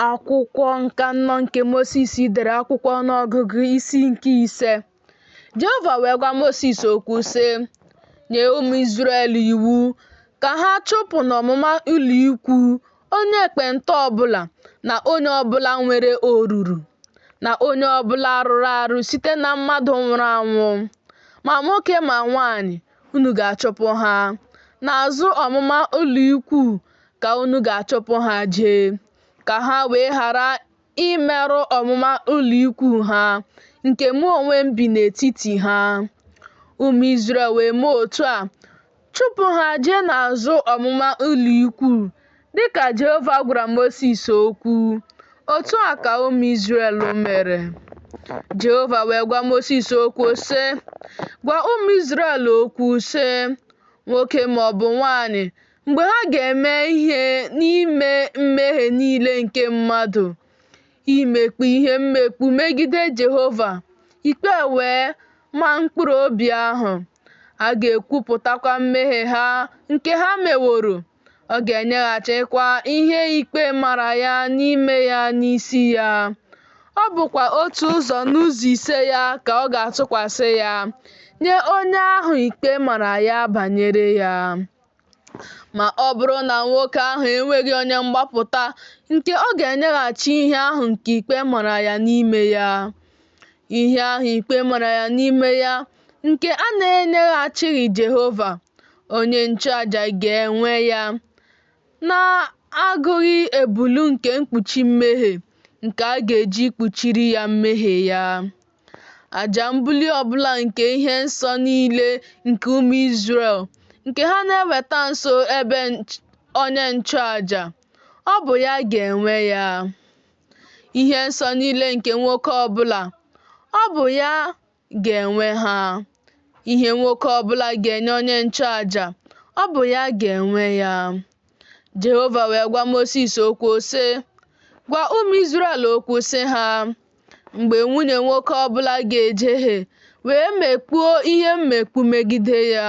Akwụkwọ nke anọ nke Mosis dere akwụkwọ ọnụọgụgụ isi nke ise. Jehova wee gwa Mosis okwu sị, Nye ụmụ Izrel iwu ka ha chụpụ n'ọmụma ụlọikwu onye ekpenta ọbụla na onye ọbụla nwere oruru na onye ọbụla rụrụ arụ site na mmadụ nwụrụ anwụ, ma nwoke ma nwaanyị, unu ga-achụpụ ha. N'azụ ọmụma ụlọikwuu ka unu ga-achụpụ ha jee, ka ha wee ghara imerụ ọmụma ụlọikwuu ha, nke mụ onwe m bi n'etiti ha. Ụmụ Izrel wee mee otu a, chụpụ ha jee n'azụ ọmụma ụlọikwuu Dị ka Jehova gwara Mosis okwu, otu a ka ụmụ Izrel mere. Jehova wee gwa Mosis okwu, sị, Gwa ụmụ Izrel okwu, sị, Nwoke ma ọ bụ nwaanyị, mgbe ha ga-eme ihe n'ime mmehie niile nke mmadụ, imekpu ihe mmekpu megide Jehova, ikpe e wee ma mkpụrụ obi ahụ, a ga-ekwupụtakwa mmehie ha nke ha meworo. ọ ga-enyeghachikwa ihe ikpe mara ya n'ime ya n'isi ya. Ọ bụkwa otu ụzọ n'ụzọ ise ya ka ọ ga-atụkwasị ya nye onye ahụ ikpe mara ya banyere ya. Ma ọ bụrụ na nwoke ahụ enweghị onye mgbapụta nke ọ ga-enyeghachi ihe ahụ nke ikpe mara ya n'ime ya, Ihe ahụ ikpe mara ya n'ime ya nke a na-enyeghachighị Jehova, onye nchụaja ga-enwe ya, na-agụghị ebulu nke mkpuchi mmehie nke a ga-eji kpuchiri ya mmehie ya. Aja mbuli ọbụla nke ihe nsọ niile nke ụmụ Izrel nke ha na-eweta nso ebe onye nchụaja, ọ bụ ya ga-enwe ya. ihe nsọ niile nke nwoke ọbụla, ọ bụ ya ga-enwe ha. Ihe nwoke ọbụla ga-enye onye nchụaja, ọ bụ ya ga-enwe ya. Jehova wee gwa Mosis okwu sị, Gwa ụmụ Izrel okwu sị ha, Mgbe nwunye nwoke ọbụla ga-ejehie wee mekpuo ihe mmekpu megide ya,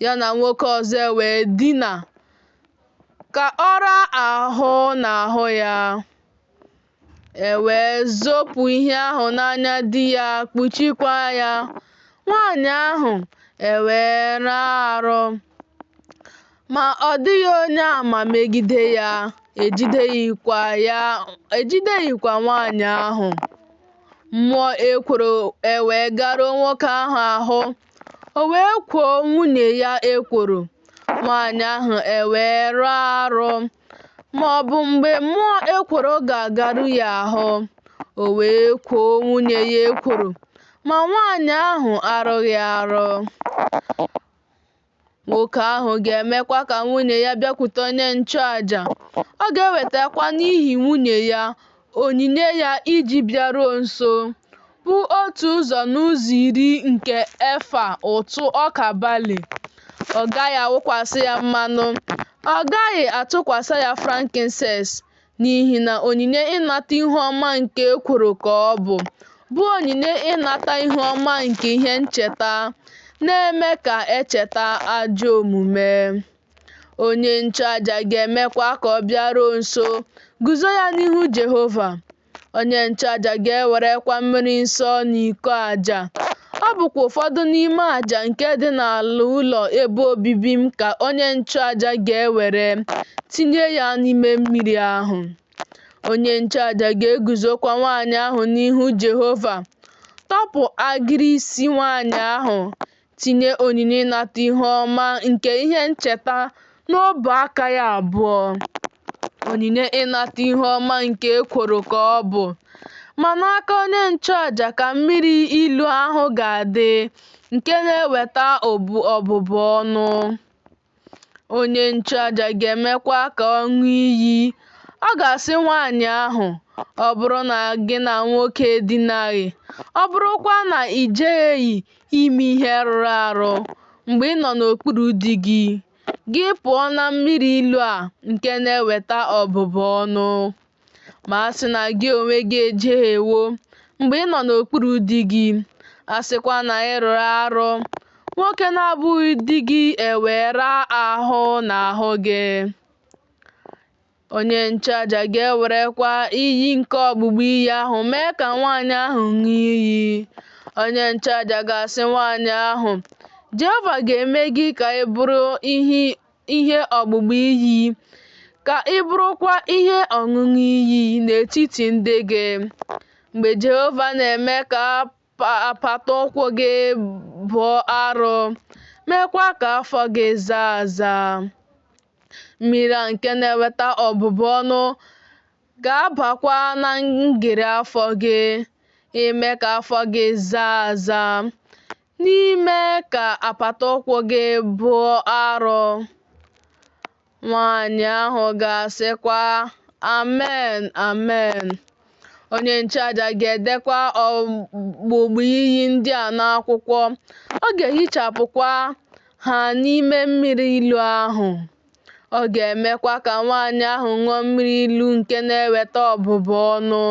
ya na nwoke ọzọ e wee dina, ka ọ raa ahụ n'ahụ ya, e wee zopụ ihe ahụ n'anya di ya kpuchikwa ya, nwaanyị ahụ e wee rụọ arụ. Ma ọ dịghị onye ama megide ya, ejideghịkwa nwaanyị ahụ. Mmụọ ekworo e wee garuo nwoke ahụ ahụ. O wee kwoo nwunye ya ekworo, nwaanyị ahụ ewee rụọ arụ, ma ọ bụ mgbe mmụọ ekworo ga-agaru ya ahụ, o wee kwoo nwunye ya ekworo, ma nwaanyị ahụ arụghị arụ. Nwoke ahụ ga-emekwa ka nwunye ya bịakwute onye nchụaja, ọ ga-ewetakwa n'ihi nwunye ya onyinye ya iji bịaruo nso, bụ otu ụzọ n'ụzọ iri nke efa ụtụ ọka bali. Ọ gaghị awụkwasị ya mmanụ, ọ gaghị atụkwasị ya frankincense. n'ihi na onyinye ịnata ihu ọma nke ekworo ka ọ bụ, bụ onyinye ịnata ihu ọma nke ihe ncheta, na-eme ka e cheta ajọ omume. Onye nchụaja ga-emekwa ka ọ bịaruo nso, guzo ya n'ihu Jehova. Onye nchụaja ga-ewerekwa mmiri nsọ n'iko aja Ọ bụkwa ụfọdụ n'ime aja nke dị n'ala ụlọ ebe obibi m ka onye nchụaja ga-ewere tinye ya n'ime mmiri ahụ. Onye nchụaja ga-eguzokwa nwaanyị ahụ n'ihu Jehova, tọpụ agịrị isi nwaanyị ahụ, tinye onyinye ịnata ihu ọma nke ihe ncheta N'ọbụ aka ya abụọ, onyinye ịnata ihu ọma nke ekworo ka ọ bụ, ma n'aka onye nchụaja ka mmiri ilu ahụ ga-adị nke na-eweta ọbụbụ ọnụ. Onye nchụaja ga-emekwa ka ọ ṅụọ iyi. Ọ ga-asị nwaanyị ahụ, Ọ bụrụ na gị na nwoke edinaghị, ọ bụrụkwa na i jehieghị ime ihe rụrụ arụ mgbe ị nọ n'okpuru di gị, gị pụọ na mmiri ilu a nke na-eweta ọbụbụ ọnụ. Ma a sị na gị onwe gị ejehiewo mgbe ị nọ n'okpuru di gị, a sịkwa na ị rụrụ arụ, nwoke na-abụghị di gị ewee raa ahụ n'ahụ gị. Onye nchụaja ga-ewerekwa iyi nke ọgbụgba iyi ahụ mee ka nwaanyị ahụ ṅụọ iyi. Onye nchụaja ga-asị nwaanyị ahụ, Jehova ga-eme gị ka ị bụrụ ihe ọgbụgba iyi, ka ị bụrụkwa ihe ọṅụṅụ iyi n'etiti ndị gị. Mgbe Jehova na-eme ka apata ụkwụ gị bụọ arọ, meekwa ka afọ gị zaa aza. Mmiri a nke na-eweta ọbụbụ ọnụ ga-abakwa na ngịrị afọ gị, ime ka afọ gị zaa aza, na ime ka apata ụkwụ gị bụọ arọ. Nwaanyị ahụ ga-asịkwa, Amen, amen. Onye nchụaja ga-edekwa ọgbụgba iyi ndị a n'akwụkwọ, ọ ga-ehichapụkwa ha n'ime mmiri ilu ahụ. Ọ ga-emekwa ka nwaanyị ahụ ṅụọ mmiri ilu nke na-eweta ọbụbụ ọnụ.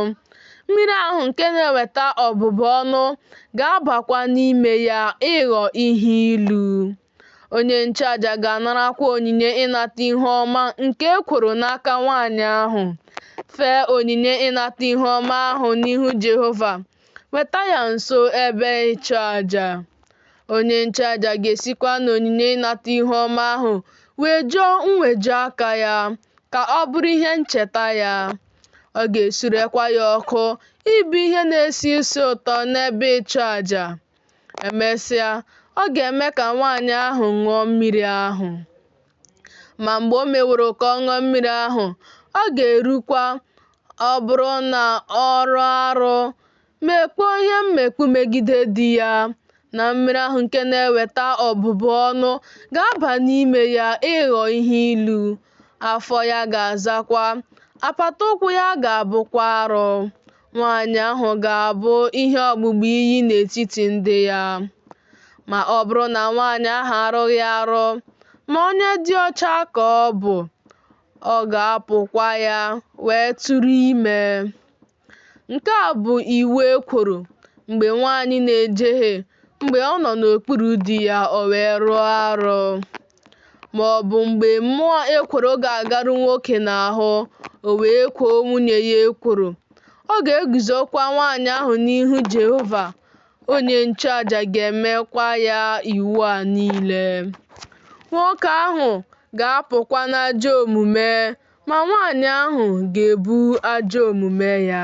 Mmiri ahụ nke na-eweta ọbụbụ ọnụ ga-abakwa n'ime ya ịghọ ihe ilu. Onye nchụaja ga-anarakwa onyinye ịnata ihe ọma nke ekworo n'aka nwaanyị ahụ. Fee onyinye ịnata ihe ọma ahụ n'ihu Jehova. Weta ya nso ebe ịchụ aja. Onye nchụaja ga-esikwa n'onyinye ịnata ihe ọma ahụ wejuo mweju aka ya ka ọ bụrụ ihe ncheta ya. Ọ ga-esurekwa ya ọkụ ịbụ ihe na-esi isi ụtọ n'ebe ịchụ aja. Emesịa, ọ ga-eme ka nwaanyị ahụ ṅụọ mmiri ahụ. Ma mgbe o meworo ka ọ ṅụọ mmiri ahụ, ọ ga-erukwa ọ bụrụ na ọ rụọ arụ, mekpuo ihe mmekpu megide di ya, na mmiri ahụ nke na-eweta ọbụbụ ọnụ ga-aba n'ime ya ịghọ ihe ilu, afọ ya ga-azakwa, apata ụkwụ ya ga-abụkwa arụ. Nwaanyị ahụ ga-abụ ihe ọgbụgba iyi n'etiti ndị ya. Ma ọ bụrụ na nwaanyị ahụ arụghị arụ, ma onye dị ọcha ka ọ bụ, ọ ga-apụkwa ya wee tụrụ ime. Nke a bụ iwu ekworo mgbe nwaanyị na-ejehie mgbe ọ nọ n'okpuru di ya o wee rụọ arụ. ma ọ bụ mgbe mmụọ ekworo ga-agaru nwoke n'ahụ, o wee kwoo nwunye ya ekworo. Ọ ga-eguzokwa nwaanyị ahụ n'ihu Jehova, onye nchụaja ga-emekwa ya iwu a niile. Nwoke ahụ ga-apụkwa n'ajọ omume, ma nwaanyị ahụ ga-ebu ajọ omume ya.